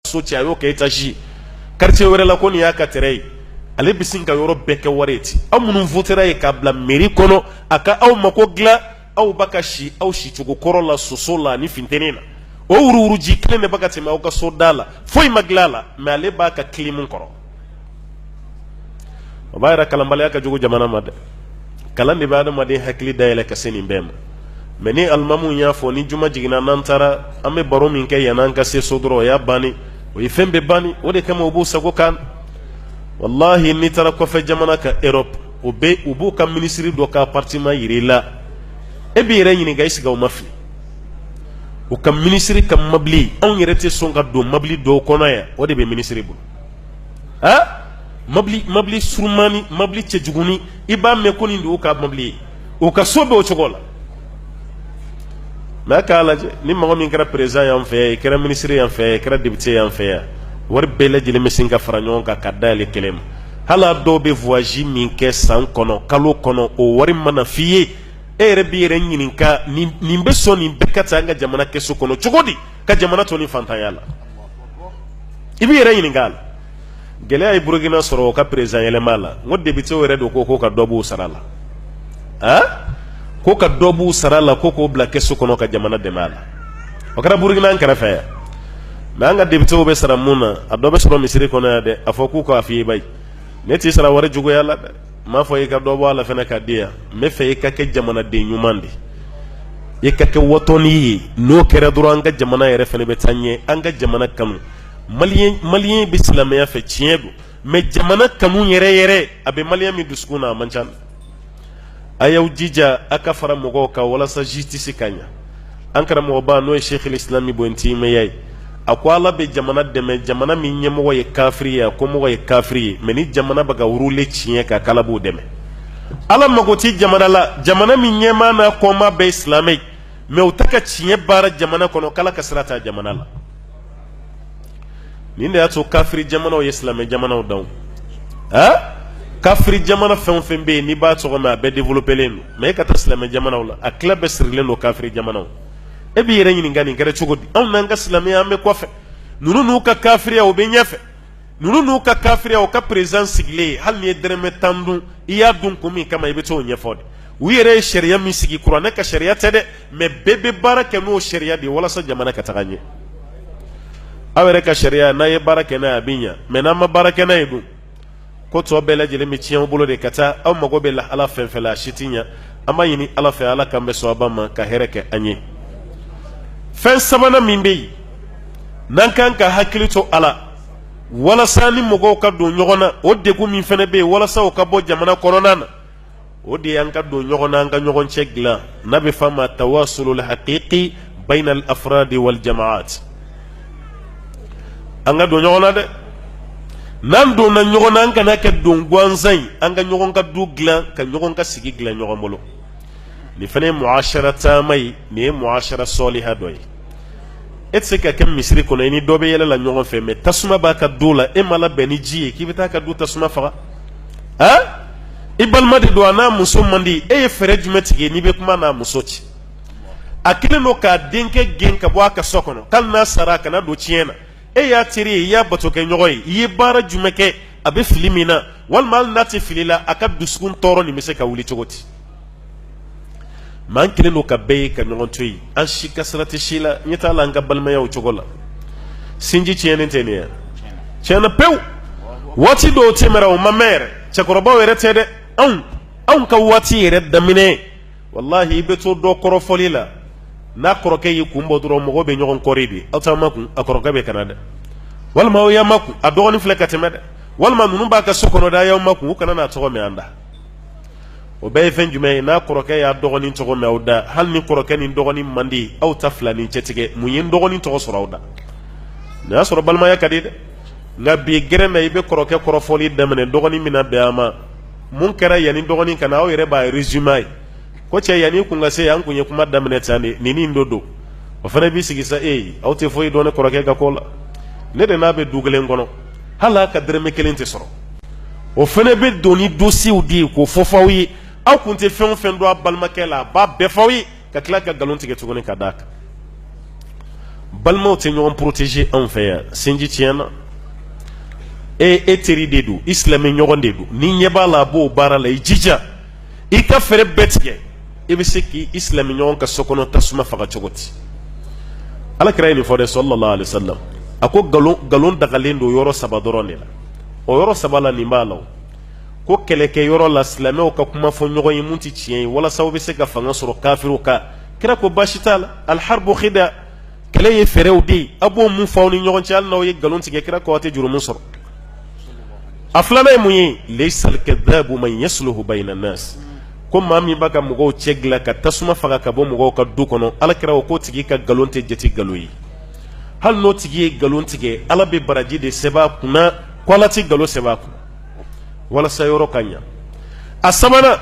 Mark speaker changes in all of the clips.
Speaker 1: so cɛ a y'o kɛ étage quartier wɛrɛ la ko nin y'a ka terrain ye ale bɛ sin ka yɔrɔ bɛɛ kɛ wari ye ten aw minnu votera ye k'a bila mairie kɔnɔ a ka aw mako dilan aw ba ka si aw sicogo kɔrɔ la soso la ani funteni na o wuruwuruji kelen de bɛ ka tɛmɛ aw ka so da la foyi ma dilan a la mais ale b'a ka kilimu kɔrɔ o b'a yira kalanbaliya ka jugu jamana ma dɛ kalan de bɛ adamaden hakili dayɛlɛ ka se nin bɛɛ ma mais ni alimamu y'a fɔ ni juma jiginna n'an taara an bɛ baro min kɛ yan'an ka se so dɔrɔn o y'a banni o ye fɛn bɛɛ banni o de kama u b'u sago kan walahi n'i taara kɔfɛ jamana ka Europe o bɛ u b'u ka minisiri dɔ ka appartement jira i la e b'i yɛrɛ ɲininka est-ce que u ma fili u ka minisiri ka mabili anw yɛrɛ tɛ sɔn ka don mabili dɔw kɔnɔ yan o de bɛ minisiri bolo a mabili mabili surunmanin mabili cɛjugunin i b'a mɛn ko nin de y'u ka mabili ye u ka so bɛ o cogo la mais a k'a lajɛ ni mɔgɔ min kɛra président y'an fɛ yan i kɛra minisiri y'an fɛ yan i kɛra député y'an fɛ yan wari bɛɛ lajɛlen bɛ sin ka fara ɲɔgɔn kan ka d'a yɛrɛ kelen ma hali a dɔw bɛ voyage min kɛ san kɔnɔ kalo kɔnɔ o wari mana f'i ye e yɛrɛ b'i yɛrɛ ɲininka nin nin bɛ sɔn nin bɛɛ ka ta an ka jamana kɛsu kɔnɔ cogo di ka jamana to ni fantanya la i b'i yɛrɛ ɲininka la gɛlɛya ye burukina sɔrɔ o ka président yɛlɛma la n ko députéw yɛrɛ de ko ko ka dɔ b'u sara la a ko ka dɔ b'u sara la ko k'o bila kɛsu kɔnɔ ka jamana dɛmɛ a la o kɛra burukina an kɛrɛfɛ yan mais an ka députéw bɛ sara mun na a dɔ bɛ sɔrɔ misiri kɔnɔ yan dɛ a fɔ k'u k'a f'i ye bayi ne t'i sara wari juguya la dɛ n m'a fɔ i ka dɔ bɔ a la fɛnɛ ka di yan n bɛ fɛ i ka kɛ jamanaden ɲuman de ye i ka kɛ watɔni ye n'o kɛra dɔrɔn an ka jamana yɛrɛ fɛnɛ bɛ taa ɲɛ an ka jamana kanu maliyɛn maliyɛn bɛ silamɛya fɛ tiɲɛ don mais jamana kanu yɛrɛ yɛrɛ a bɛ maliyɛn min dusukun na a man ca a y'aw jija a ka fara mɔgɔw kan walasa justice ka ɲɛ an karamɔgɔba n'o ye Sheikhul Islam Ibn Taymiya ye a ko ala bɛ jamana dɛmɛ jamana min ɲɛmɔgɔ ye kafiri ye a kɔmɔgɔ ye kafiri ye mais ni jamana bɛ ka rouler tiɲɛ kan k'ala b'u dɛmɛ ala mago tɛ jamana la jamana min ɲɛmaa n'a kɔmaa bɛɛ ye silamɛ ye mais u tɛ ka tiɲɛ baara jamana kɔnɔ k'ala ka sira t'a jamana la nin de y'a to kafiri jamanaw ye silamɛ jamanaw dan a kafiri jamana fɛn o fɛn bɛ yen n'i b'a tɔgɔ mɛn a bɛɛ développélen don mais e ka taa silamɛ jamanaw la a tila bɛɛ sirilen don kafiri jamanaw e b'i yɛrɛ ɲininka nin kɛra cogo di anw n'an ka silamɛya an bɛ kɔfɛ ninnu n'u ka kafiriya u bɛ ɲɛfɛ ninnu n'u ka kafiriya u ka perezidan sigilen hali n'i ye dɛrɛmɛ tan dun i y'a dun kun min kama i bɛ t'o ɲɛfɔ de u yɛrɛ ye sariya min sigi kuranɛ ka sariya tɛ dɛ mɛ bɛɛ bɛ baara kɛ n'o sariya de ye walasa jamana ka taga ɲɛ aw yɛrɛ ka sariya n'a ye baara kɛ n'a ye a bɛ ɲɛ mɛ n'an ma baara kɛ n'a ye dun ko tɔ bɛɛ lajɛlen bɛ tiɲɛ aw bolo de ka taa aw mago bɛ lahala fɛn fɛn la a si tɛ ɲɛ an b'a ɲini ala fɛ ala k'an bɛ sɔnba ma ka hɛrɛ kɛ an ye fɛn sabanan min bɛ yen n'an kan ka hakili to a la walasa ni mɔgɔw ka don ɲɔgɔn na o degun min fana bɛ yen walasa o ka bɔ jamana kɔnɔna na o de y'an ka don ɲɔgɔn na an ka ɲɔgɔn cɛ dilan n'a bɛ f'a ma tawasulul haqiqi bayna al afradi wal jamaa an ka don ɲɔgɔn na dɛ n'an donna ɲɔgɔn na an kana kɛ don gansan ye an ka ɲɔgɔn ka du dilan ka ɲɔgɔn ka sigi dilan ɲɔgɔn bolo nin fana ye muashara taama ye nin ye muashara sɔliha dɔ ye e tɛ se ka kɛ misiri kɔnɔ i ni dɔ bɛ yɛlɛ la ɲɔgɔn fɛ mɛ tasuma b'a ka du la e ma labɛn ni ji ye k'i bɛ t'a ka du tasuma faga han i balima de don a n'a muso man di e ye fɛɛrɛ jumɛn tigɛ n'i bɛ kuma a n'a muso cɛ a kelen don k'a denkɛ gɛn ka bɔ a ka so kɔnɔ k'ali n'a sara a kana don tiɲɛ na e y'a teri ye i y'a batokɛ ɲɔgɔn ye i ye baara jumɛn kɛ a bɛ fili min na walima hali n'a tɛ fili la a ka dusukun tɔɔrɔ nin bɛ se ka wuli cogo di maa an kelen don k'a bɛɛ ye ka ɲɔgɔn to yen an si ka sira tɛ si la ɲɛ t'a la an ka balimaya o cogo la sinji tiɲɛnen tɛ nin ye tiɲɛna pewu waati dɔw tɛmɛna o ma mɛn yɛrɛ cɛkɔrɔbaw yɛrɛ tɛ dɛ anw anw ka waati yɛrɛ daminɛ walahi i bɛ to dɔ kɔrɔfɔli la n'a kɔrɔkɛ y'i kun bɔ dɔrɔn mɔgɔw bɛ ɲɔgɔn kɔri de aw t'aw makun a kɔrɔkɛ bɛ ka na dɛ walima aw y'aw makun a dɔgɔnin filɛ ka tɛmɛ dɛ walima ninnu b'a ka so kɔnɔ dɛ a y'aw makun u kana n'a tɔgɔ mɛn an da o bɛɛ ye fɛn jumɛn ye n'a kɔrɔkɛ y'a dɔgɔnin tɔgɔ mɛn aw da hali ni kɔrɔkɛ ni dɔgɔnin man di aw ta fila ni cɛ tigɛ mun ye n dɔgɔnin tɔgɔ sɔrɔ aw da nin y'a sɔrɔ balimaya ka di dɛ nka bi gɛrɛmɛ i bɛ kɔrɔkɛ kɔrɔfɔli daminɛ dɔgɔnin mana bɛn a ma mun kɛra yanni dɔgɔnin ka na aw yɛrɛ b'a rezime ye ko cɛ yanni kun ka se an kun ye kuma daminɛ tan de nin nin dɔ don o fana b'i sigi sa e aw tɛ foyi dɔn ne kɔrɔkɛ ka ko la ne de n'a bɛ du kelen kɔnɔ hali a ka dɛrɛmɛ kelen tɛ sɔrɔ o fana bɛ don ni dosiyew de ye k'o fɔ f'aw ye aw tun tɛ fɛn o fɛn dɔn a balimakɛ la a b'a bɛɛ f'aw ye ka tila ka nkalon tigɛ tuguni ka d'a kan balimaw tɛ ɲɔgɔn poroteze anw fɛ yan sinji tiɲɛna e e teri de don i silamɛ ɲɔgɔn de don ni ɲɛ b'a la a b'o baara la i jija i ka fɛɛrɛ bɛɛ tigɛ i bɛ se k'i silamɛ ɲɔgɔn ka so kɔnɔ tasuma faga cogo di ala kira ye nin fɔ dɛ sallallahu alaihi wasallam a ko nkalon dagalen don yɔrɔ saba dɔrɔn de la o yɔrɔ saba la nin b'a la ko kɛlɛkɛ yɔrɔ la silamɛw ka kuma fɔ ɲɔgɔn ye min tɛ tiɲɛ ye walasa u bɛ se ka fanga sɔrɔ kafiriw kan kira ko baasi t'a la alharbu khida kɛlɛ ye fɛɛrɛw de ye a b'o mun fɔ aw ni ɲɔgɔn cɛ hali n'aw ye nkalon tigɛ kira ko aw tɛ jurumu sɔrɔ a filanan ye mun ye laysa al-kadhabu man yasluhu bayna an-nas ko maa min b'a ka mɔgɔw cɛ dilan ka tasuma faga ka bɔ mɔgɔw ka du kɔnɔ alakira ko k'o tigi ka nkalon tɛ jate nkalon ye hali n'o tigi ye nkalon tigɛ ala bɛ baraji de sɛbɛn a kunna ko a tɛ nkalon sɛbɛn a kunna walasa yɔrɔ ka ɲɛ a sabanan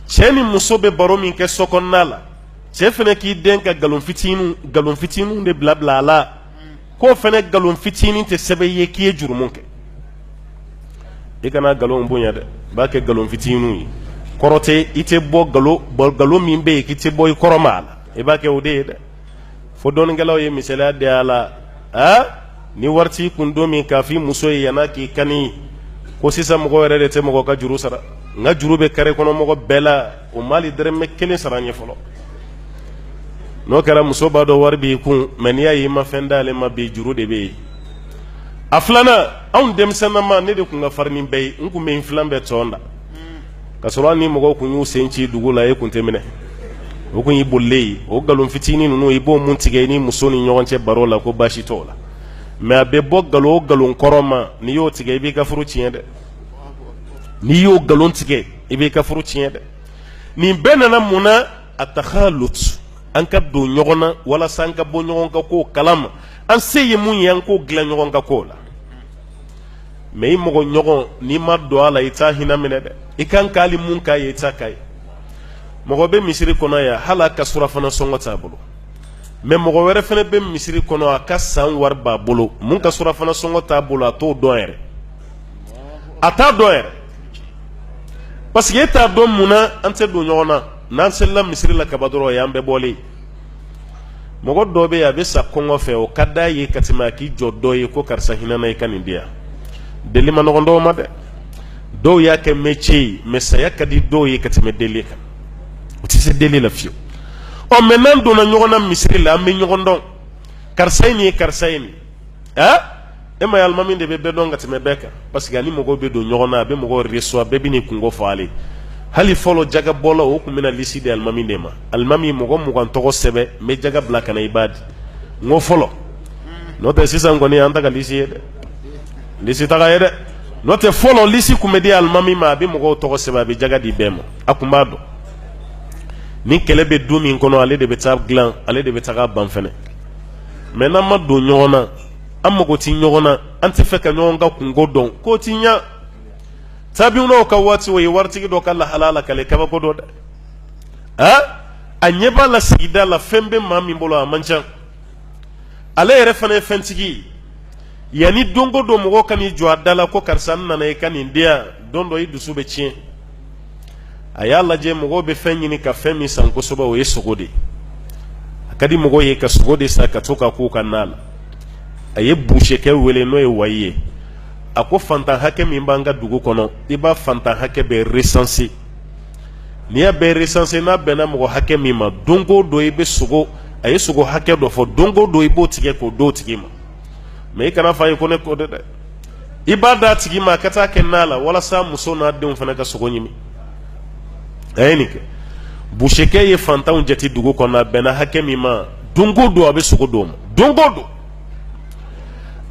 Speaker 1: cɛ ni muso bɛ baro min kɛ so kɔnɔna la cɛ fana k'i den ka nkalon fitinin nkalon fitinin de bila a la k'o fana nkalon fitinin tɛ sɛbɛn i ye k'i ye jurumu kɛ i kana nkalon bonya dɛ i b'a kɛ nkalon fitinin ye kɔrɔ tɛ i tɛ bɔ nkalon bɔ nkalon min bɛ yen k'i tɛ bɔ i kɔrɔ ma a la i b'a kɛ o de ye dɛ fo dɔnnikɛlaw ye misaliya di a la aa ni wari t'i kun don min k'a f'i muso ye yan'a k'i kani ko sisan mɔgɔ yɛrɛ de tɛ mɔgɔ ka juru sara n ka juru bɛ kare kɔnɔ mɔgɔ bɛɛ la o ma hali dɔrɔmɛ kelen sara n ye fɔlɔ n'o kɛra muso b'a dɔn wari b'i kun mɛ n'i y'a y'i ma fɛn d'ale ma bi juru de bɛ yen a filanan anw denmisɛnninma ne de tun ka farin ni bɛɛ ye n tun bɛ n filan bɛɛ tɔn da ka sɔrɔ hali ni mɔgɔw tun y'u sen ci dugu la e tun tɛ minɛ o tun y'i bolilen ye o nkalon fitinin ninnu i b'o mun tigɛ i ni muso ni ɲɔgɔn cɛ baro la ko baasi t'o la mɛ a bɛ bɔ nkalon nkalon kɔrɔ ma n'i y'o tigɛ i b'i ka furu tiɲɛ dɛ n'i y'o nkalon tigɛ i b'i ka furu tiɲɛ dɛ nin bɛɛ nana mun na a takhalut an ka don ɲɔgɔn na walasa an ka bɔ ɲɔgɔn ka kow kalama an se ye mun ye an k'o dilan ɲɔgɔn ka ko la mɛ i mɔgɔ ɲɔgɔn n'i ma don a la i t'a hinɛ minɛ dɛ i kan k'ale mun k'a ye i t'a k'a ye mɔgɔ bɛ misiri kɔnɔ yan hali a ka surafana sɔngɔ t'a bolo mɛ mɔgɔ wɛrɛ fana bɛ misiri kɔnɔ a ka san wari b'a bolo mun ka surafana sɔngɔ t'a bolo a t'o dɔn yɛrɛ a t'a dɔn yɛrɛ parce que e t'a dɔn mun na an tɛ don ɲɔgɔn na n'an selila misiri la ka ban dɔrɔn o y'an bɛɛ bɔlen mɔgɔ dɔ bɛ yen a bɛ sa kɔngɔ fɛ o ka d'a ye ka tɛmɛ a k'i jɔ dɔ ye ko karisa hinɛ n na i ka nin di yan deli ma nɔgɔn dɔw ma dɛ dɔw y'a kɛ métier ye mɛ saya ka di dɔw ye ka tɛmɛ deli kan u tɛ se deli la fiyewu ɔ mɛ n'an donna ɲɔgɔn na misiri la an bɛ ɲɔgɔn dɔn karisa ye nin ye karisa ye nin ɛ e m'a ye alimami de bɛ bɛɛ dɔn ka tɛmɛ bɛɛ kan parce que a ni mɔgɔw bɛ don ɲɔgɔn na a bɛ mɔgɔw resuwa bɛɛ bɛ n'i kunko fɔ ale hali fɔlɔ jagabɔla o tun bɛna lisi di alimami de ma alimami mɔgɔ mugan tɔgɔ sɛbɛn n bɛ jaga bila ka na i b'a di n ko fɔlɔ n'o tɛ sisan kɔni an ta ka lisi ye dɛ lisi taga ye dɛ n'o tɛ fɔlɔ lisi tun bɛ di alimami ma a bɛ mɔgɔw tɔgɔ sɛbɛn a bɛ jaga di bɛɛ ma a tun b'a dɔn ni kɛlɛ bɛ du min kɔnɔ ale de bɛ taa dilan ale de bɛ taa ban fɛnɛ mɛ n'an ma don ɲɔgɔn na an mago tɛ ɲɔgɔn na an tɛ fɛ ka ɲɔgɔn ka kunko dɔn ko ti ɲɛ tabi'unaw ka waati o ye waritigi dɔ ka lahala lakale kabako dɔ dɛ a a ɲɛ b'a la sigida la fɛn bɛ maa min bolo a man ca ale yɛrɛ fana ye fɛntigi ye yanni don o don mɔgɔ ka n'i jɔ a da la ko karisa n nana i ka nin di yan don dɔ i dusu bɛ tiɲɛ a y'a lajɛ mɔgɔw bɛ fɛn ɲini ka fɛn min san kosɛbɛ o ye sogo de ye a ka di mɔgɔw ye ka sogo de san ka to ka k'u ka na la a ye busekɛ wele n'o ye wayi ye a ko fantan hakɛ min b'an ka dugu kɔnɔ i b'a fantan hakɛ bɛɛ recenser n'i y'a bɛɛ recenser n'a bɛnna mɔgɔ hakɛ min ma don o don i bɛ sogo a ye sogo hakɛ dɔ fɔ don o don i b'o tigɛ k'o d'o tigi ma mɛ i kana fɔ a ye ko ne ko dɛ i b'a d'a tigi ma a ka taa kɛ na la walasa muso n'a denw fana ka sogo ɲimi a ye nin kɛ busekɛ ye fantanw jate dugu kɔnɔ a bɛnna hakɛ min ma don o don a bɛ sogo d'o ma don o don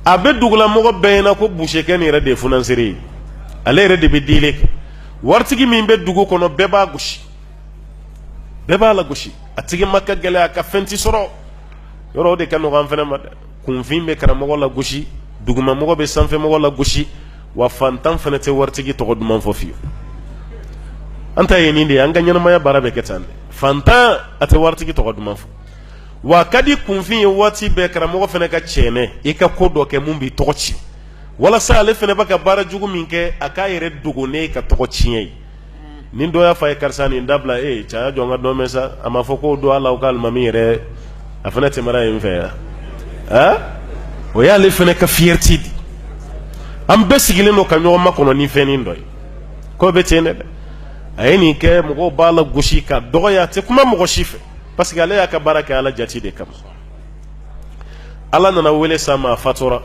Speaker 1: a bɛ dugulamɔgɔ bɛɛ ɲɛna ko busekɛ nin yɛrɛ de ye funansere ye ale yɛrɛ de bɛ dili kɛ waritigi min bɛ dugu kɔnɔ bɛɛ b'a gosi bɛɛ b'a lagosi a tɛgɛma ka gɛlɛn a ka fɛn ti sɔrɔ yɔrɔ o de ka nɔgɔ an fana ma dɛ kunfin bɛ karamɔgɔ lagosi dugumamɔgɔ bɛ sanfɛmɔgɔ lagosi wa fantan fana tɛ waritigi tɔgɔ duman fɔ fiyewu an ta ye nin de ye an ka ɲɛnamaya baara bɛ kɛ tan dɛ fantan a tɛ waritigi tɔgɔ duman fɔ wa a ka di kunfin ye waati bɛɛ karamɔgɔ fana ka cɛɛnɛ i ka ko dɔ kɛ min b'i tɔgɔ tiɲɛ walasa ale fana bɛ ka baara jugu min kɛ a k'a yɛrɛ dogo n'i ka tɔgɔtiɲɛ ye ni dɔ y'a fɔ a ye karisa nin dabila e cɛ a jɔ n ka dɔ mɛn sa a ma fɔ ko don ala la k'alimami yɛrɛ a fana tɛmɛra yen fɛ yan o y'ale fana ka fierté di an bɛɛ sigilen don ka ɲɔgɔn makɔnɔ ni fɛnin dɔ ye ko bɛ ten ne dɛ a ye nin kɛ mɔgɔw b'a lagosi k'a dɔgɔya a tɛ kuma mɔgɔ si fɛ parce que ale y'a ka baara kɛ ala jaati de kama ala nana wele s'a ma a fatura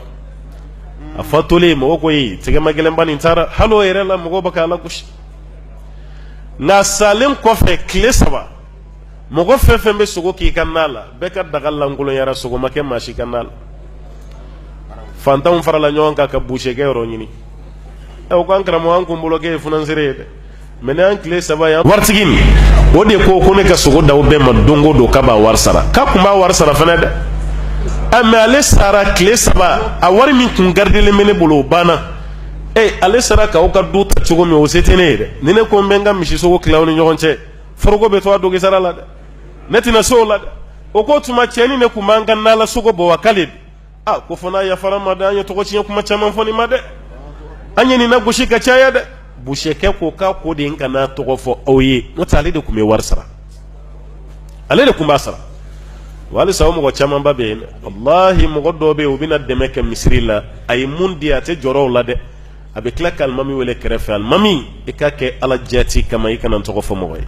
Speaker 1: a fatulen mɔgɔw ko ye tɛgɛma gɛlɛnba nin taara hali o yɛrɛ la mɔgɔw bɛ k'a lagosi nka a salen kɔfɛ tile saba mɔgɔ fɛn fɛn bɛ sogo k'i ka na la bɛɛ ka daga lankolonyara sogo ma kɛ maa si ka na la fantanw farala ɲɔgɔn kan ka busekɛ yɔrɔ ɲini ɛ o ko an karamɔgɔ an kun bolo k'e ye funansere ye dɛ Mɛ nin tile saba yan waritigi nin o de ko ko ne ka sogo d'aw bɛɛ ma don o don k'a b'a wari sara k'a kun b'a wari sara fana dɛ a mɛ ale sara tile saba a wari min kun garidelen bɛ ne bolo o banna e ale sara k'aw ka du ta cogo min o se tɛ ne ye dɛ ni ne ko n bɛ n ka misisogo tila aw ni ɲɔgɔn cɛ foroko bɛ to a dɔgi sara la dɛ ne tɛna se o la dɛ o ko o tuma cɛ nin ne kun b'an ka na la sogo bɔ wa k'ale a ko fana yafara ma dɛ an ye tɔgɔ tiɲɛ kuma caman fɔ nin ma dɛ an ye nin nagosi ka caya dɛ busekɛ ko k'a ko ne kan'a tɔgɔ fɔ aw ye n'o tɛ ale de tun bɛ wari sara ale de tun b'a sara wa halisa o mɔgɔ camanba bɛ yen walahi mɔgɔ dɔw bɛ yen u bɛna dɛmɛ kɛ misiri la a ye mun di a tɛ jɔrɔ o la dɛ a bɛ tila ka alimami wele kɛrɛfɛ alimami i k'a kɛ ala jati kama i kana n tɔgɔ fɔ mɔgɔ ye